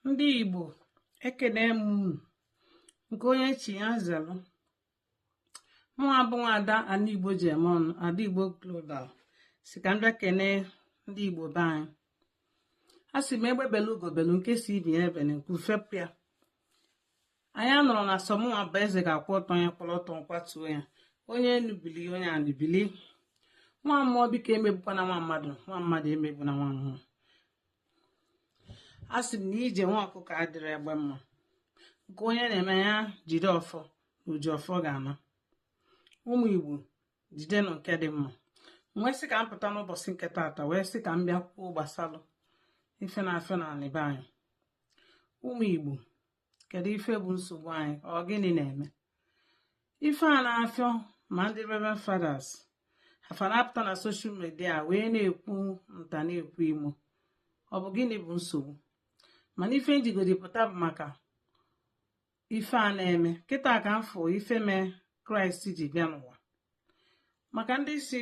ndị igbo ekene m unu nke onye chi ya zelu mụwa bụ nwa ada anị igbo ji eme ọnụ ada igbo global sị ka m bịa kene ndị igbo be anyị a sị m egbe belu ugo belu nke sị ibe ya ebene nku fepụ ya anyị anọrọ na sọ mụwa bụ eze ga-akwụ ọtọ ya kwụrụ ọtọ nkwatuo ya onye enu bili onye anị bili nwa mmụọ biko emegbukwana nwa mmadụ nwa mmadụ emegbuna nwa mmụọ a sị m na ije nwa ọkụkọ adịrọ egbe mma nke onye na-eme ya jide ọfọ na oji ọfọ ga-ana ụmụ igbo jidenụ nke dị mma wee sị ka m pụta n'ụbọchị nke taata wee sị ka m bịa kwuo gbasalụ ife na-afịọ n'anị be anyị ụmụ Igbo kedu ife bụ nsogbu anyị ọ gịnị na-eme ife a na-afịọ ma ndị Reverend Fathers a fa na-apụta na social media wee na-ekwu nta na-ekwu imo ọ bụ gịnị bụ nsogbu mana ife m jigodi pụta bụ maka ife a na-eme kịta ka m fụ ife mee kraịst ji bịa n'ụwa maka ndị sị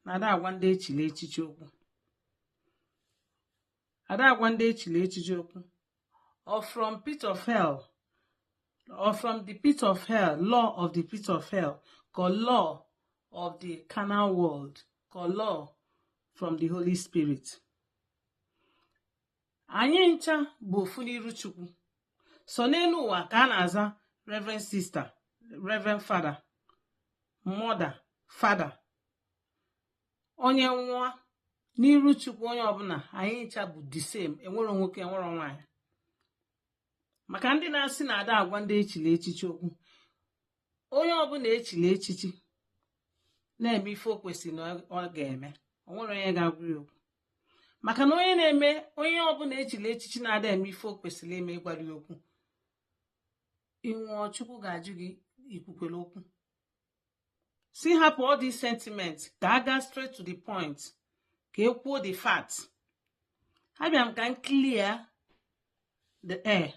na ada agwa ndị echili echichi okwu ada agwa ndị echili echichi okwu ọ from pit of hell ọ from the pit of hell law of the pit of hell ka ọ law of the carnal world ka ọ law from the holy spirit anyị ncha bụ ofu n'iru chukwu sọ n'enu ụwa ka a na-aza reverend sister reverend father mother father onye nwụọ n'iru chukwu onye ọbụna anyị ncha bụ the same enwerọ nwoke enwerọ nwaanyị maka ndị na-asị na ada agwa ndị echili echichi okwu onye ọbụna echili echichi na-eme ife o kwesịrị na ọ ga-eme o nwerọ onye ga-agwa ya okwu maka na onye na-eme onye ọbụna echili echichi na-ada eme ife o kwesịlị ime ị gwarọ ya okwu ị nwụọ chukwu ga-ajụ gị i kwukwelu okwu sị hapụ all these sentiments ka a gaa straight to the point ka e kwuo the fact abịa m ka m clear the air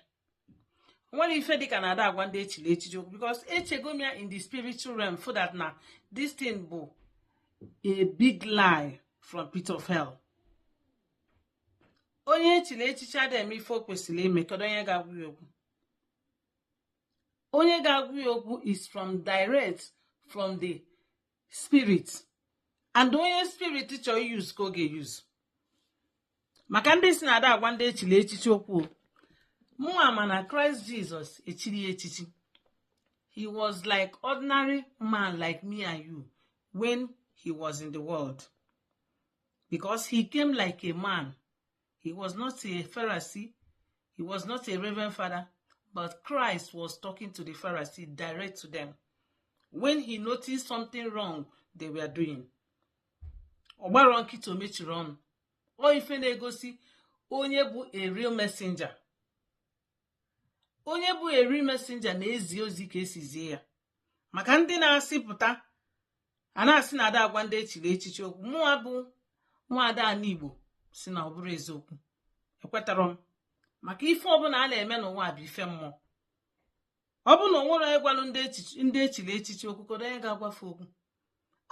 enwerọ ife dịka na ada agwa ndị echili echichi okwu because echego m ya in the spiritual realm found out na this thing bụ a big lie from pit of hell onye echili echichi ada eme ife o kwesịlị ime kedu onye ga-agwa ya okwu onye ga-agwa ya okwu is from direct from the spirit and onye spirit chọrọ use ka ọ ga-use maka ndị sị na ada agwa ndị echili echichi okwu mụnwa ma na kraịst jizọs echirọ ya echichi he was like ordinary man like me and you when he was in the world because he came like a man He was not a Pharisee. He was not a Reverend Father. But Christ was talking to the Pharisee direct to them. When he noticed something wrong they were doing. ọ gbarọ nkịtị o mechirọ ọnụ ọ ife na-egosi onye bụ a real messenger onye bụ a real messenger na-ezi ozi ka esi zie ya maka ndị na-asị pụta a na-asị na ada agwa ndị echili echichi okwu mụwa bụ nwaada anị igbo sị na ọ bụrọ eziokwu ekwetarọ m maka ife ọbụla a na-eme n'ụwa bụ ife mmụọ ọ bụ na o nwerọ onye gwalụ ndị echili echichi okwu kedu onye ga-agwafe okwu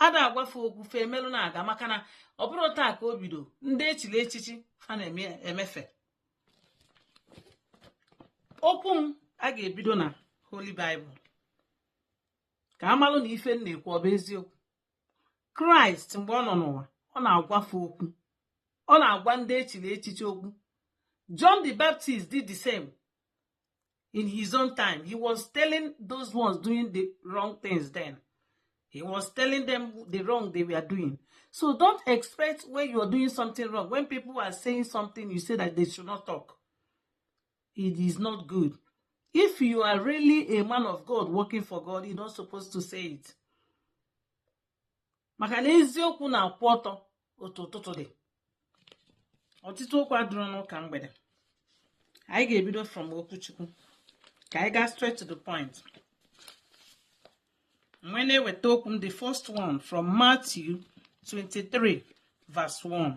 ada agwafe okwu fe emelụ na-aga maka na ọ bụrọ taa ka o bido ndị echili echichi fa na-emefe okwu m a ga-ebido na Holy Bible ka a malụ na ife m na-ekwu ọ bụ eziokwu kraịst mgbe ọ nọ n'ụwa ọ na-agwafe okwu ọ na-agwa ndị echili echichi okwu john the baptist did the same in his own time he was telling those ones doing the wrong things then he was telling them the wrong they were doing so don't expect when you are doing something wrong when people are saying something you say that they should not talk it is not good if you are really a man of god working for god you're not supposed to say it maka na eziokwu na-akwụ ọtọ otu ụtụtụ dị ọtụtụ okwu adịrọ n'ụka mgbede anyị ga-ebido from okwu chukwu ka anyị gaa straight to the point ebe m na-eweta okwu m the first one from Matthew 23 verse 1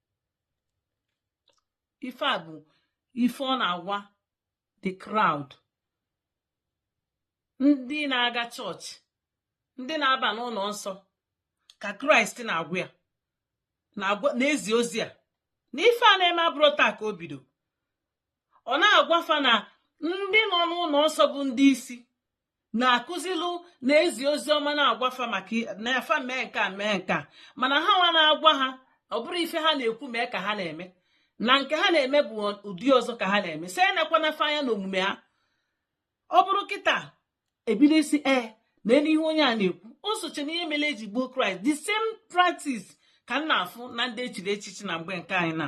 ife a bụ ife ọ na-agwa the crowd ndị na-aga chọọchị ndị na-aba n'ụlọ nsọ ka kraịst na-agwa ya na-ezi ozi a na ife a na-eme abụrọ taa ka o bido ọ na-agwafa na ndị nọ n'ụlọ nsọ bụ ndị isi na-akụzilụ na-ezi ozi ọma na-agwafa na fa mee nke a mee nke a mana ha nwa na-agwa ha ọ bụrọ ife ha na-ekwu mee ka ha na-eme na nke ha na-eme bụ ụdị ọzọ ka ha na-eme sị enekwana fa anya na omume ha ọ bụrụ kịta ebido ịsị ee nelu ihe onye a na-ekwu o socha na ihe mere eji gbuo kraịst the same practice ka m na-afụ na ndị echiri echichi na mgbe nke anyị na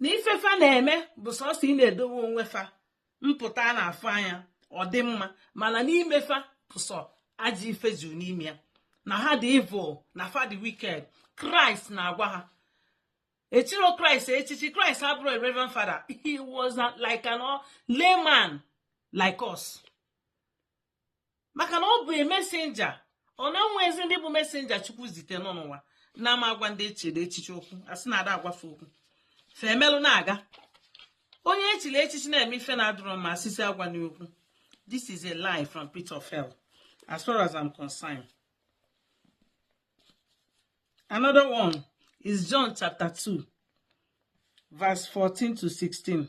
na ife fa na-eme bụ sọsọ ị na-edowe onwe fa mpụta a na-afụ anya ọ dị mma mana n'ime fa bụ sọ ajọ ife juru n'ime ya na ha dị evil na fa dị wicked kraịst na-agwa ha echiro kraịst echichi kraịst abụrọ a reverend father he was like an layman like us maka na ọ bụ messenger ọ na-enwezi ndị bụ messenger chukwu zite nọ n'ụwa na ama agwa ndị echiri echichi okwu a sị na ada agwa fa okwu fa emelụ na-aga onye echiri echichi na-eme ife na-adịrọ mma a sị sị agwana okwu this is a lie from pit of hell as far as I'm concerned another one is John chapter 2 verse 14 to 16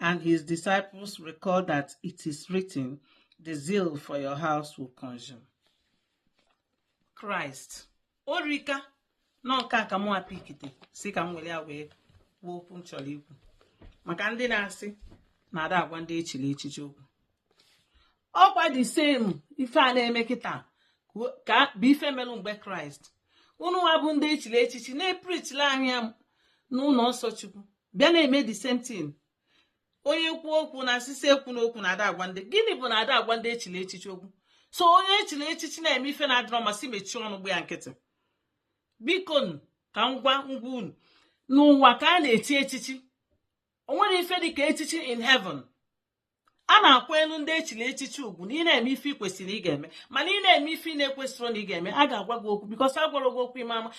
And his disciples recalled that it is written, The zeal for your house will consume. Christ, Orika, na nke a ka mụ apikite si ka m were ya wee kwuo okwu m chọrọ ikwu maka ndị na-asị na ada agwa ndị echiri echichi okwu ọkwa the same ife a na-eme kịta ka bụ ife melụ mgbe kraịst unu nwa bụ ndị echiri echichi na-epreachili anyị n'ụnọ nsọ chukwu bịa na-eme the same thing onye kwuo okwu na asị sị ekwuna okwu na ada agwa ndị gịnị bụ na ada agwa ndị echiri echichi okwu so onye echiri echichi na-eme ife na-adịrọ mma a sị mechie ọnụ gba ya nkịtị biko ka m gwa m gwa unu n'ụwa ka a na-echi echichi o nwerọ ife dị ka echichi in heaven a na-akwanyelụ ndị echiri echichi ugwu na ị na-eme ife ị kwesịrị ị ga-eme mana ị na-eme ife ị na-ekwesịrọ na ị ga-eme a ga-agwa gị okwu because a gwarọ gị okwu ị ma-ama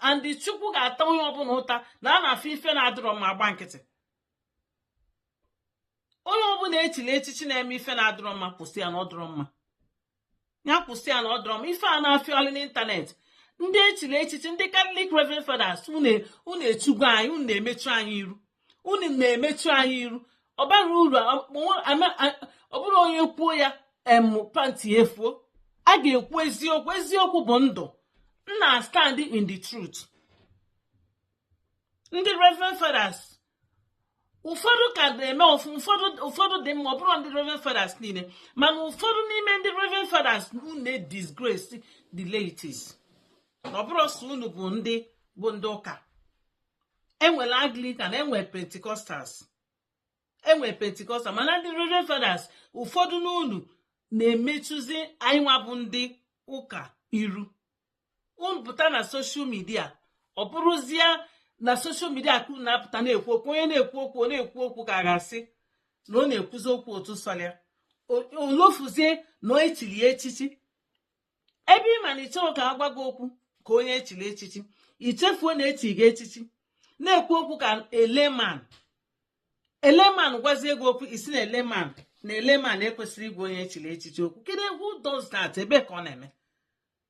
and chukwu ga-ata onye ọbụla ụta na a na-afụ ife na-adịrọ mma agba nkịtị onye ọbụla echiri echichi na-eme ife na-adịrọ mma kwụsị ya na ọ dịrọ mma ya kwụsị ya na ọ dịrọ mma ife a na-afịọlụ n'internet ndị echiri echichi ndị catholic reverend fathers unu echugo anyị unu na-emechu anyị iru unu na-emechu anyị iru ọ barọ uru ọ bụrụ onye kwuo ya em panti efuo a ga-ekwu eziokwu eziokwu bụ ndụ m na-astand in the truth ndị reverend fathers ụfọdụ ka na-eme ọfụ ụfọdụ ụfọdụ dị mma ọ bụrọ ndị reverend fathers niile mana ụfọdụ n'ime ndị reverend fathers unu na-edisgrace the laities na ọ bụrọ sọ unu bụ ndị bụ ndị ụka enwere anglican enwere pentecostals enwere pentecostal mana ndị reverend fathers ụfọdụ n'unu na-emechuzi anyị nwa bụ ndị ụka iru unu pụta na social media ọ bụrụzie na social media ka unu na-apụta na-ekwu okwu onye na-ekwu okwu ọ na-ekwu okwu ka a ga-asị na ọ na-ekwuzi okwu otu sọlụ ya o lofuzie na echiri ya echichi ebe ị ma na ị chọrọ ka a gwa gị okwu ka onye echiri echichi i chefuo na echiri gị echichi na-ekwu okwu ka a layman a layman gwazie gị okwu ị sị na a layman na a layman ekwesịrọ ịgwa onye echiri echichi okwu kedu who does that ebe ka ọ na-eme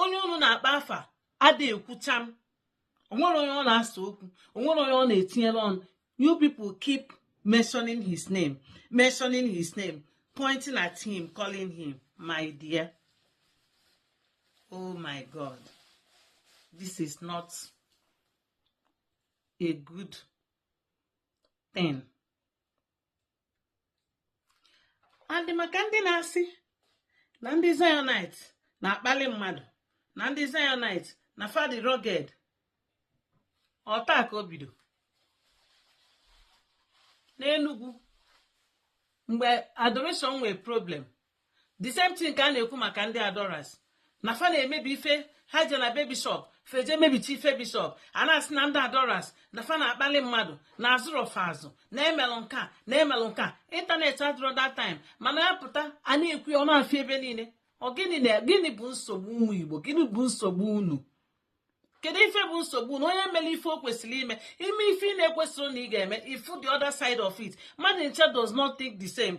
onye unu na-akpa afa ada ekwu cham o nwere onye ọ na-asa okwu o nwere onye ọ na-etinyere ọnụ you people keep mentioning his name mentioning his name pointing at him calling him my dear oh my god this is not a good thing and maka ndị na-asị na ndị zionite na-akpali mmadụ na ndị zionite na fa dị rugged ọ taa ka o bido n'enugwu mgbe adoration nwee problem the same thing ka a na-ekwu maka ndị adorers na fa na-emebi ife ha je na be bishop fa eje mebicha ife bishop a na-asị na ndị adorers na fa na-akpali mmadụ na azụrọ fa azụ na emelụ nke a na emelụ nke a internet adịrọ that time mana ya pụta a na-ekwu ya ọ na-efe ebe niile ọ gịnị na gịnị bụ nsogbu ụmụ igbo gịnị bụ nsogbu unu kedu ife bụ nsogbu na onye mere ife o kwesịrị ime ime ife ị na-ekwesịrị na ị ga-eme ị fụ the other side of it mmadụ ncha does not think the same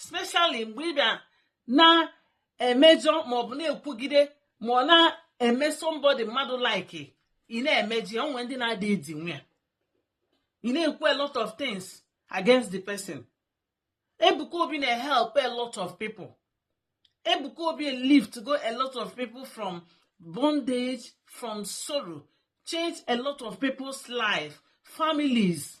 especially mgbe ị bịa na-emejọ ma ọ bụ na-ekwugide ma ọ na-eme somebody mmadụ like ị na-emeji o nwe ndị na-adị edinwu ya ị na-ekwu a lot of things against the person Ebuka Obi na-help a lot of people Ebuka Obi lift go a lot of people from bondage from sorrow change a lot of people's life families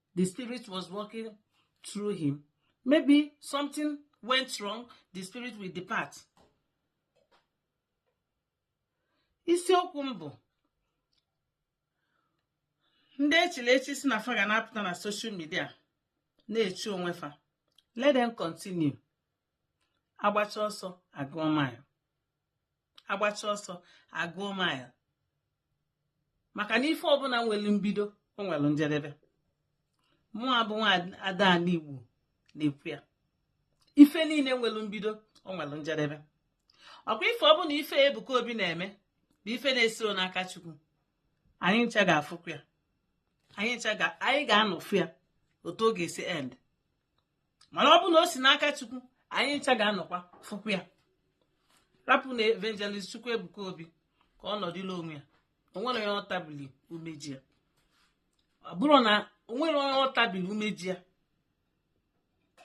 the spirit was working through him maybe something went wrong the spirit will depart isiokwu m bụ ndị echili echi sị na fa ga na-apụta na social media na-echi onwe fa let them continue agbacha ọsọ agụọ mile agbacha ọsọ agụọ mile maka na ife ọbụla nwere mbido o nwere njedebe mụwa bụ nwa ada anị igbo na-ekwu ya ife niile nwere mbido o nwere njedebe ọkwa ife ọbụla ife ebuka obi na-eme bụ ife na-esiro n'aka chukwu anyị ncha ga-afụkwa ya anyị ga-anọ fụ ya otu ọ ga-esi end mana ọ bụ na o si n'aka chukwu anyị ncha ga-anọkwa fụkwa ya rapụnụ evangelist chukwuebuka obi ka ọ nọdụlụ onwe ya o nwere onye ọ tabili umeji ya ọ bụrụ na o nwere onye ọ tabili umeji ya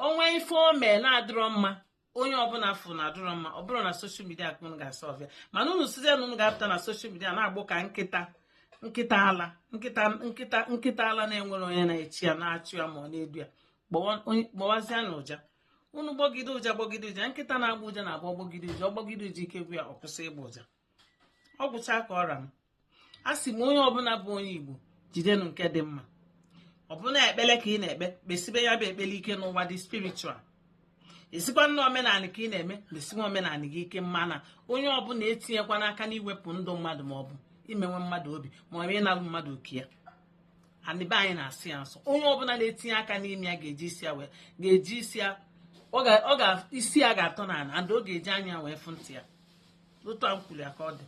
o nwee ife o mee na-adịrọ mma onye ọbụla fụ na ọ dụrọ mma ọ bụrụ na social media ka unu ga-asọ ọbịa mana unu sịzie na unu ga-apụta na social media na-agbọ ka nkịta ala nkịta ala na-enwerọ onye na-achị ya na-achụ ya ma ọ na-edu ya gbọwazienụ ụja unu gbọgide ụja gbọgide ụja nkịta na-agbọ ụja na-agbọ ọ gbọgide ụja ọ gbọgide ụja ike gwụ ya ọ kwụsị ịgbọ ụja ọ gwụcha ka ọ ra m asị m onye ọbụla bụ onye igbo jidenụ nke dị mma ọ bụ na ekpele ka ị na-ekpe kpesibe ya bụ ekpele ike n'ụwa dị spiritual ị sịkwanụ na omenala ka ị na-eme mesiwe omenala gị ike mana onye ọbụla etinyekwana aka n'iwepụ ndụ mmadụ ma ọ bụ imenwe mmadụ obi ma ọ bụ ịnalụ mmadụ oke ya anị be anyị na-asọ ya nsọ onye ọbụla na-etinye aka n'ime ya ga-eji isi ya wee ga-eji isi ya ọ ga isi ya ga-atọ n'ala and ọ ga-eji anya wee fụ ntị ya otu a m kwuru ya ka ọ dị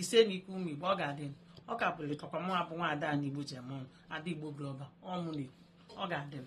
ise n'ike ụmụ igbo ọ ga-adị m. ọ ka bụrụ ịtọkwa mụ bụ nwa ada ndị igbo ji eme ọnụ ada igbo global ọ mụ na-ekwu ọ ga-adị m